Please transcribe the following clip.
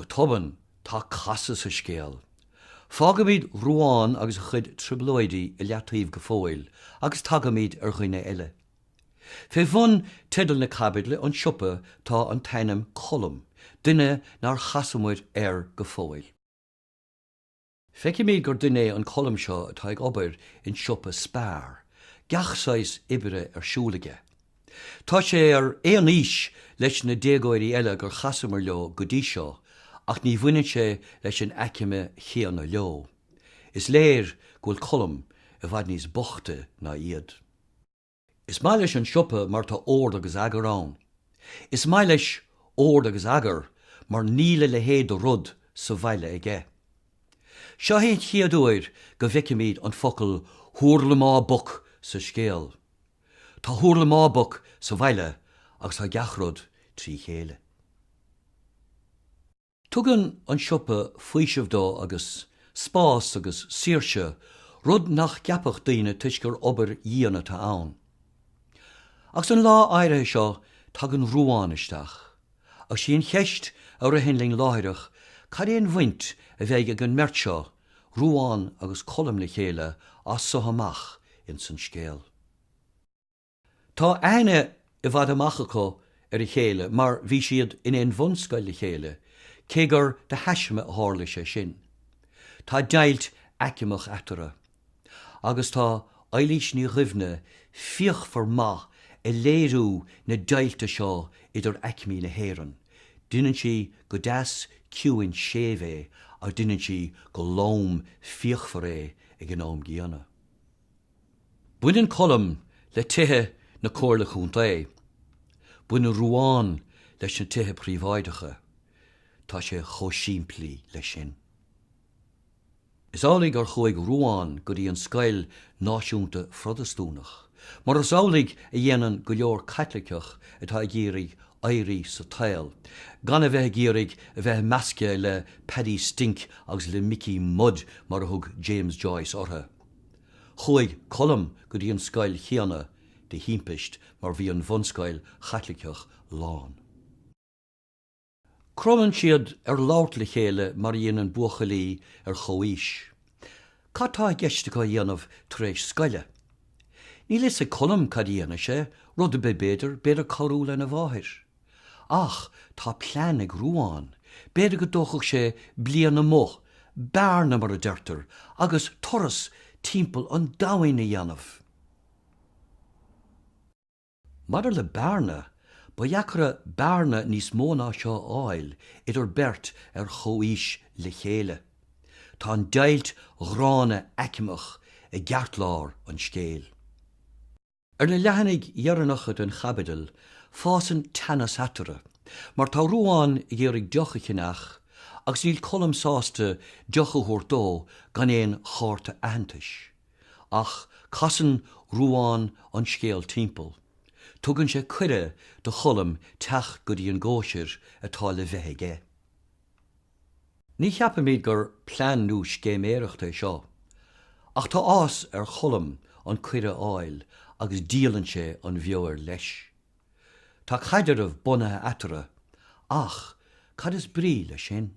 Go tobann, tá casadh sa scéal. Fágaimid Ruán agus a chuid trioblóidí i leataobh go fóill agus tagaimid ar dhuine eile. Fé bhun teideal na caibidle, An Siopa, tá an t-ainm Colm, duine nár chas muid air go fóill. Feicimid gur duine é an Colm seo atá ag obair in siopa Spar, gach saghas oibre ar siúl aige. Tá sé ar aon aois leis na déagóirí eile gur chasamar leo go dtí seo ach ní bhaineann sé leis an aicme chéanna leo. Is léir go bhfuil Colm i bhfad níos boichte ná iad. Is maith leis an siopa mar tá ord agus eagar ann. Is maith leis ord agus eagar mar níl a leithéid de rud sa bhaile aige. Seo é an chéad uair go bhfeicimid an focal hurlamaboc sa scéal. Tá hurlamaboc sa bhaile agus tá gach rud trí chéile. Tugann an siopa faoiseamh dó agus spás agus saoirse, rud nach gceapfadh daoine toisc gur obair dhian atá ann. Agus an lá áirithe seo tagann Ruán isteach agus sí an cheist a ritheann linn láithreach, cad é an bhaint a bheidh ag an mbeirt seo, Ruán agus Colm le chéile as so amach ins an scéal? Tá aithne i bhfad amach acu ar a chéile mar bhí siad in aon bhunscoil le chéile, cé gur de thaisme a tharla sé sin. Tá deighilt aicmeach eatarthu. Agus tá Éilís Ní Dhuibhne fíochmhar maith i léiriú na deighilte seo idir aicmí na hÉireann, deineann sí go deas ciúin séimh é ach deineann sí go lom fíochmhar é ag an am gcéanna. Baineann Colm le tithe na Comhairle Chontae. Baineann Ruán leis na tithe príobháideacha. Tá sé chomh simplí leis sin. Is amhlaidh gur chuaigh Ruán go dtí an scoil náisiúnta Phrotastúnach, mar is amhlaidh a dhéanann go leor Caitliceach atá ag iarraidh éirí sa tsaol, gan a bheith ag iarraidh a bheith measctha le Paddy Stink agus le Mickey Mud mar a thug James Joyce orthu. Chuaigh Colm go dtí an scoil chéanna de thimpist mar bhí an bhunscoil Chaitliceach lán. Cromann siad ar labhairt le chéile mar a dhéanann buachaillí ar chomhaois. Cad tá i gceist acu a dhéanamh tar éis scoile? Níl a fhios ag Colm cad a dhéanfaidh sé, rud ar bith b'fhéidir, b'fhéidir cabhrú lena mháthair. Ach tá plean ag Ruán, b'fhéidir go dtógfadh sé bliain amuigh, bearna mar a deirtear, agus turas timpeall an domhain a dhéanamh. Maidir le bearna, ba dheacra bearna níos mó ná seo a fháil idir beirt ar chomhaois le chéile. Tá an deighilt ghránna aicmeach i gceartlár an scéil. Ar na leathanaigh dheireanacha den chaibidil, fásann teannas eatarthu, mar tá Ruán ag iarraidh deoch a cheannach agus níl Colm sásta deoch a thabhairt dó gan aon chárta aitheantais. Ach casann Ruán an scéal timpeall. Tugann sé cuireadh do Cholm teacht go dtí an gcóisir atá le bheith aige. Ní cheapaimid gur plean nó scéiméireacht é seo, ach tá áthas ar Cholm an cuireadh a fháil agus díolann sé an bheoir leis. Tá caidreamh bunaithe eatarthu, ach cad is brí leis sin?